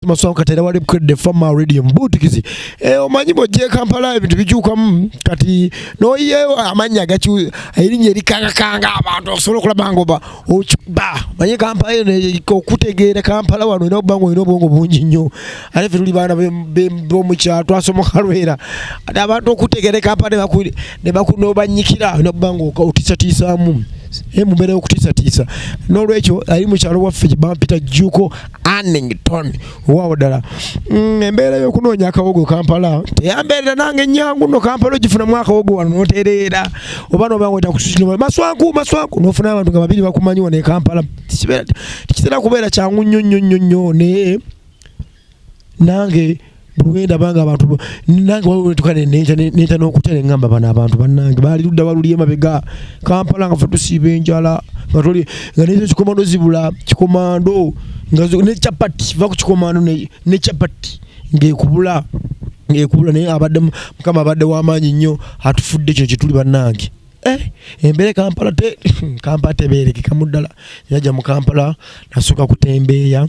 Maswamu kati era wali bukedde fama radio mbuutikizi eh, omanyi bwojja ekampala ebintu bikyukamu kati noyeyo amannya gaky erinnya erikangakanga abantu osobola okulaba nga oba okiba manye kampala eno okutegeera kampala wano olina okuba nga olina obwongo bungi nnyo ate fe tuli baana bomukyalo twasomoka lwera ate abantu okutegeera ekampala nebakunobanyikira olina okuba nga otisatiisaamu eh, mumbeera yokutiisatiisa n'olwekyo ali mukyalo waffe bampita jjuuko Annington waawo ddala mm, embeera y'okunoonya akawogo kampala teyambeerera nange ennyangu no kampala ogifunamu akawogo wano notereera oba noba nga otakususinoma maswanku maswanku nofuna abantu nga babiri bakumanyi wano ekampala tekitera kubeera kyangu nnyo nnyo nnyo nnyo naye nange bwenda banga abantu nange waliwo wetuka nenta n'okutya ne ŋŋamba bano abantu bannange baali ludda baluli emabega kampala nga fe tusiiba enjala nga toli nga nekyo kikomando zibula kikomando nga ne chapati va ku kikomando ne chapati ng'ekubula ng'ekubula naye abadde mukama abadde w'amaanyi nnyo atufudde kino kyetuli bannange Eh, embere kampala te kampala teberekeka muddala yaja mu kampala nasooka kutembeeya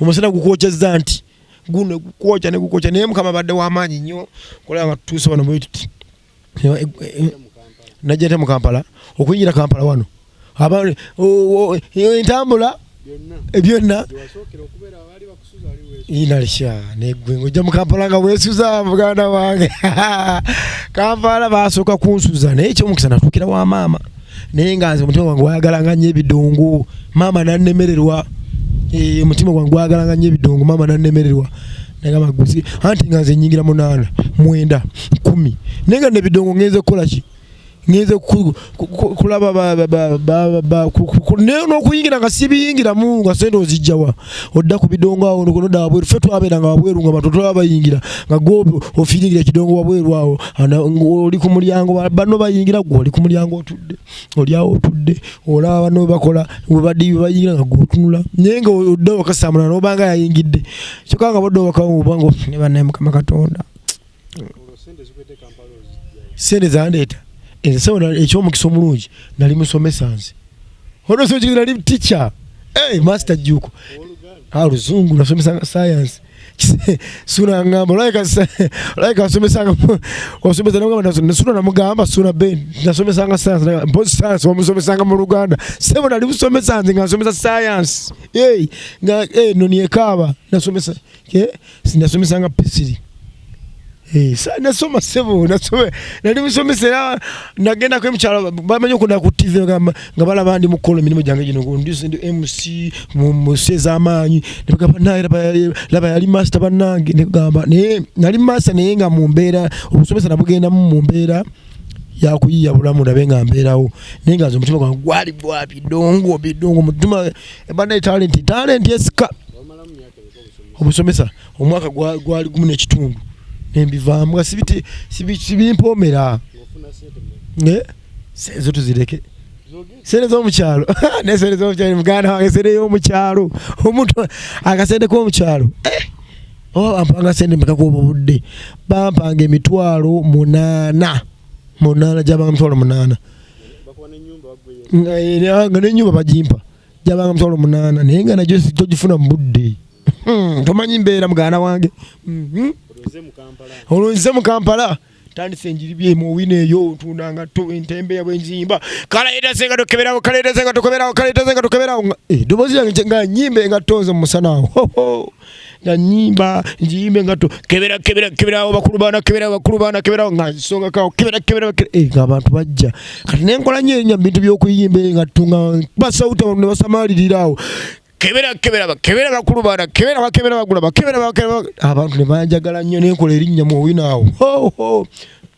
omusana gukwokyezza nti guno gukwokya ne gukwokya naye mukama badde wamaanyi nnyo kulaba nga tutuuse wano bwetuti najja nte mu kampala okuyingira kampala wano entambula byonna inalisha negwe ngojja mu kampala nga wesuza muganda wange kampala basooka kunsuza naye ekyomukisa natuukira wa maama naye nga nze omutima gwange gwayagalanga nnyo ebidongo maama nannemererwa eh, omutima gwange gwayagalanga nnyo ebidongo maama nannemererwa nagamba guzi anti nga nze nyingira munaana mwenda kumi naye nga nebidongo ngenze kukola ki ngenze kulaba n'okuyingira nga sibiyingiramu nga sente ozijjawa odda ku bidongo awo noda wabweru fe twabeeranga wabweru nga bantu tolaba bayingira nga gwe ofiiringira ekidongo wabweru awo oli ku mulyango banno bayingira gwe oli ku mulyango otudde oli awo otudde olaba banno bakola webadiibi bayingira nga gwe otunula naye nga odda wakasamula nobanga yayingidde kyokka nga bodda wakaobanga ofune banaye mukama katonda sente zandeeta ensawo ekyomukisa omulungi nali musomesa nze olwosoki nali ticha hey, master juko aluzungu ah, nasomesanga sayansi sula ngamba olaika olaika asomesanga osomesa nogamba sula namugamba sula ben nasomesanga sayansi mpozi sayansi wamusomesanga mu luganda sebo nali musomesa nze nga nsomesa sayansi hey, nga hey, eh, noniekaaba nasomesa eh, sinasomesa nga pisiri eh, nasoma sebo nasoma nali musomesa era nagendako emukyalo bamanyi okuna ku tv nga balaba ndi mukola emirimu gyange gino ndi mc musi ez'amaanyi nebagamba naye laba yali master bannange negamba naye nali master naye nga mu mbeera obusomesa nabugendamu mu mbeera yakuyiya bulamu ndabe nga mbeerawo naye nga nze omutima gwange gwali gwa bidongo bidongo mutima ebanaye talenti talenti esika obusomesa omwaka gwali gumu nekitundu nembivaamu nga sibimpoomera ezo tuzireke sente zomukyalo nesente zomukyalo muganda wange sente yomukyalo omuntu akasente komukyalo eh! oba bampanga sente mekakuoba obudde bampanga emitwalo munaana munaana gyabanga mitwalo munaana nga nenyumba bagimpa jabanga musolo munana naye nga najo tojifuna mbudde hmm, tomanyi mbeera mugana wange mhm. olwo nze mu kampala tandise enjiri byemu owina eyo otunda nga entembe yabwe enzimba kalaetaze nga tokeberawo kalaetaze nga tokeberawo kalaetaze nga tokeberawo edobozi eh, yange nga nyimba engatto nze mumusana awo nga nyimba njiyimbe nga kebera kebera kebera bakulu bana kebera bakulu bana kebera nga nsonga kawo kebera kebera eh, nga abantu bajja kati nenkola nyo enya bintu byokuyimba nga tunga basawuta bano nebasamalirira awo kebera kebera bakebera bakulu bana kebera bakebera bagula bakebera bakebera abantu nebanjagala nnyo nenkola erinnya mu owinaawo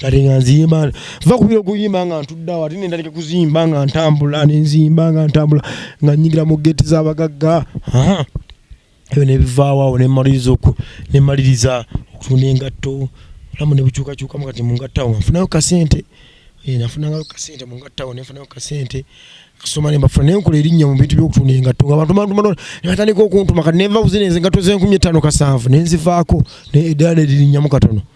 kati nga nzimba nva kubira okuyimba nga ntuddawo ate nendaleka kuzimba nga ntambula nenzimba nga ntambula nga nyingira mu geeti z'abagagga ebyo nebivaawoawo nemaliriza oku nemaliriza okutunda engatto olamu nebukyukakyukamu kati mungattawo nga nfunayo kasente eh, nafunangayo kasente mungattawo nenfunayo kasente kusoma ne mbafuna naye nkola erinnya mu bintu by'okutunda engatto nga bantu bantuma ne batandika okuntuma kati nenva kuzina enze engatto z'enkumi ettaano kasanvu ne nzivaako eddala ne lirinnyamu katono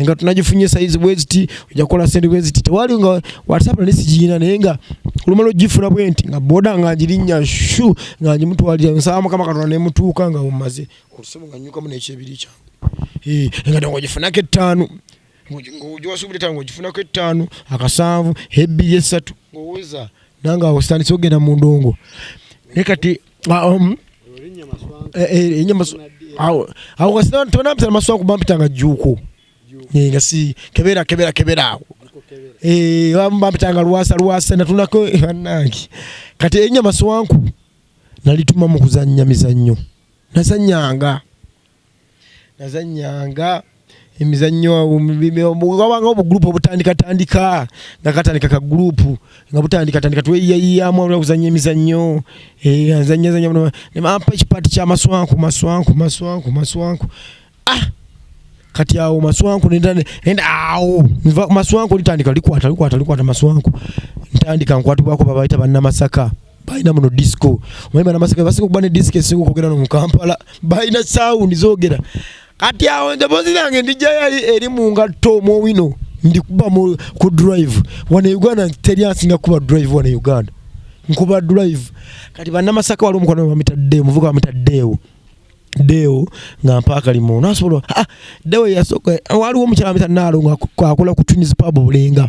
nga tunagifunye sayizi bweziti ojja kukola sente bweziti tewali nga whatsapp nali sigiyina naye nga olumala ogifuna bwe nti nga boda nga ngirinnya shu nga ngimutwalira nsaba mukama katonda nemutuuka nga mumaze olusomo nga nyukamu nekyebiri kyange eh, nga nga ogifunako ettaano ngowasuubira ettaano nga ogifunako ettaano akasanvu ebbiri essatu ngoweza nange awo sitandise ogenda mu ndongo naye kati ah, um, eh, eh, enyama awo awo kasi tubana mpita maswa ku bampita nga juko eh, nga si kebera kebera kebera awo eh bampita nga lwasa lwasa natunako banangi kati enyama swanku nalituma mu kuzannya mizannyo nasanyanga nazanyanga emizannyo wabanga obugurupu obutandikatandika nga katandika ka gurupu nga butandikatandika tweyayiyamu abula kuzanya emizannyo eh, azanyazanyabampa ekipaati kya maswanku maswanku maswanku maswanku ah kati awo maswanku nenda awo maswanku litandika likwata likwata likwata maswanku ntandika nkwatibwako babaita bannamasaka balina muno disco omanyi bana masaka basika okuba ne disco esinga okwogera no mu kampala balina sound zogera kati awo emboozi yange ndijayo eri mu ngatto mowino ndikuba ku drive wano e uganda teri asinga kuba drive wano e uganda nkuba drive kati banamasaka waliwo omukwano bamita deo muvuka bamita deo deo nga mpaakali mu nasobola ah, deo yasooka waliwo omukyala bamita naalo nga akola ku twins pub bulenga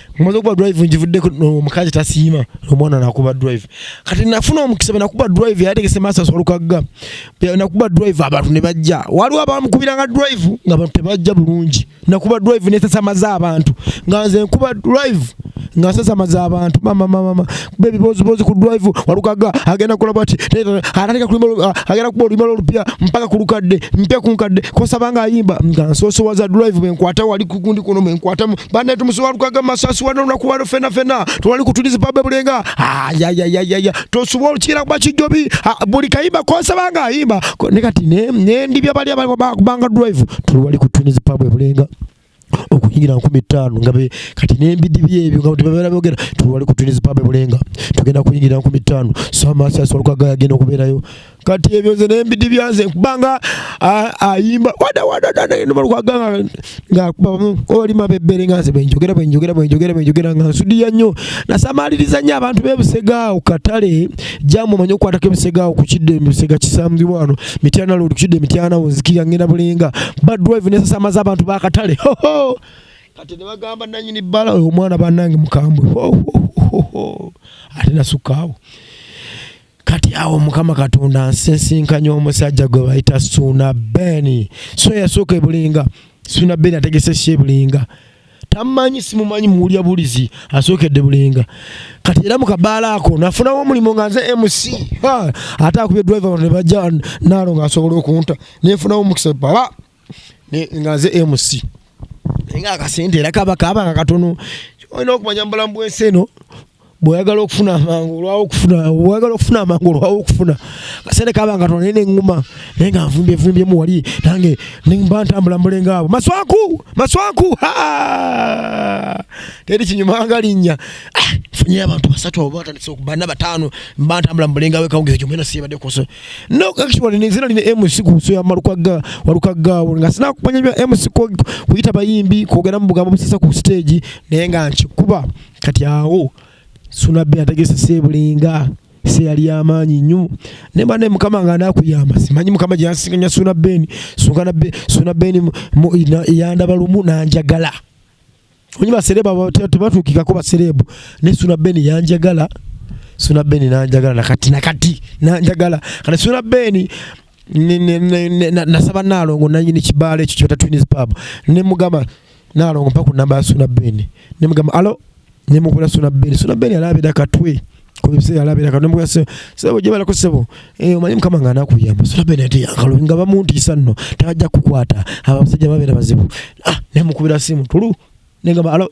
Mwaze kuba drive njivudde omukazi tasiima omwana nakuba drive kati nafuna omukisa nakuba drive yategese masa solukagga nakuba drive abantu ne bajja waliwo abamukubira nga drive nga abantu tebajja bulungi nakuba drive nesasamaza abantu nga nze nkuba drive nga nsasamaza abantu mama mama baby bozi bozi ku drive walukaga agenda kola bati anataka kulima agenda kuba olima lupya mpaka kulukadde mpya kunkadde kosa banga ayimba nga soso waza drive mwe nkwata wali kukundi kuno mwe nkwata bana tumuso walukaga masasi wana na kuwa fena fena twali kutuliza babe bulenga ya ya ya ya ya to suwa chira kwa chijobi buli kayimba kosa banga ayimba ne kati ne ne ndibya bali abali banga drive tulwali kutuliza babe bulenga okuyingira nkumi ttaano nga be kati n'embidi byebyo nga tebabeera boogera tuwali ku twinizi pabe bulenga tugenda kuyingira nkumi ttaano so amaasi asolwaga yagenda okubeerayo kati ebyo nze n'embidi byanze kubanga ayimba wadawadadadaenubalukaganga ngaoli mabebbere nga nze bwenjogera bwenjogera bwenjogera bwenjogera nga nsudiya nnyo nasamaliriza nnyo abantu bebusegaawo katale jamu omanyi okukwatako ebusegaawo ku kidde ebusega kisambibwa wano mityana lodi kukidde mityana wonzikira ngenda bulinga badrive nesasamaza abantu bakatale hoho kati nebagamba nanyini bbala oyo omwana banange mukambwe hohohoho ate nasukaawo kati awo mukama katonda nsisinkanya omusajja gwe bayita suuna beni so yasooka ebulinga suuna beni ategese shebulinga tamanyi simumanyi muwulya bulizi asookedde bulenga kati era mu kabaala ako nafunawo omulimu nga nze mc ate akubye driver wano nebajja naalo nga asobola okunta nefunawo omukisa baba nga nze mc naye nga akasente era kaba kaba nga katono olina okumanya mubulamu bwensi eno bwoyagala okufuna amangu olwawo okufuna bwoyagala okufuna amangu olwawo okufuna kasente kaba nga tonene eŋŋuma naye nga nvumbye vumbyemu wali nange mba ntambula mulenga abo maswaku maswaku teri kinyuma nga linnya ah, funye abantu basatu abo batandise okubana bataano mba ntambula mulenga we kawungeezi gyomwena siyebadde kuso no actually nezina lina mc ku nso ya malukagga walukaggaawo nga sinakumanya bya mc kuyita bayimbi kwogera mu bugambo busesa ku siteegi naye nga nkikuba kati awo sunabbi ategese sebulinga seyali yamaanyi nnyo naye bane mukama nga anakuyamba simanyi mukama gyeyansinganya suna beni suna beni yandaba lumu nanjagala onyi baserebu tebatuukikako baserebu naye suna beni yanjagala suna beni nanjagala nakati nakati nanjagala kati suna beni nasaba nalongo nanyini kibalo ekyo kyota twins pub nemugamba nalongo mpa ku namba ya suna ben nemugamba alo nemukula suna ben suna ben alabira katwe kubiseera alabira katwe nemugamba sebo sebo jebalako sebo eh, omanyi mukama nga anakuyamba suna ben ati akalo nga bamuntiisa nno tajja kukwata abasajja babeera bazibu ah nemukubira simu tulu negamba alo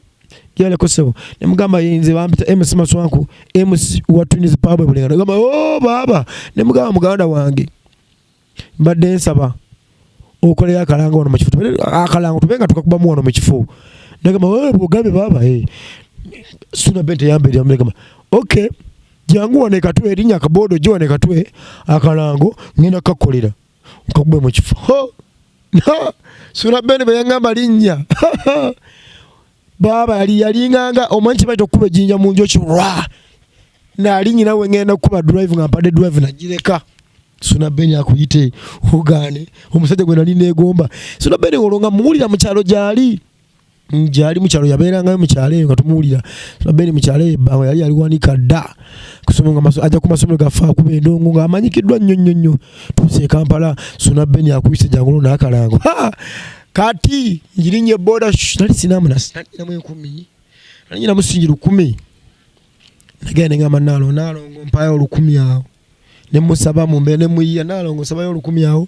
yale ko sebo ne mugamba yinze bampita MC Maswanku MC wa Twins Pub e Bulenga ngamba oh baba ne mugamba muganda wange mbadde nsaba okolera akalango wano mu kifo akalango tubenga tukakubamu wano mu kifo nagamba oh bugambe baba eh hey. suna bente yambe ya mugamba okay jangu wane katwe erinya kabodo jo wane katwe akalango ngina kakolera nkagwe mu kifo surabeni bwe yaŋŋamba linnya baaba yali yalinganga omanyi kibaita okukuba ejjinja mu njoki lwa naali nyina we ŋŋenda kukuba drive nga mpadde drive nagireka suna beni akuyite ogaane omusajja gwe nali neegomba suna beni olwo nga muwulira mu kyalo gyali njali mukyalo yabeerangayo mukyalo eyo nga tumuwulira beeni mukyalo eyo ebbanga yali yaliwanika dda kusoma nga ajja ku masomero gaffe akuba endongo nga amanyikiddwa nnyo nnyo nnyo tuuse e kampala suna beeni akuyise jangulo n'akalango kati njirinya eboda nali sinamunasinamu enkumi nali nyina musingi lukumi nagenda nengamba nalo nalongo mpayo olukumi awo nemusaba mumbeera nemuyiya nalongo nsabayo olukumi awo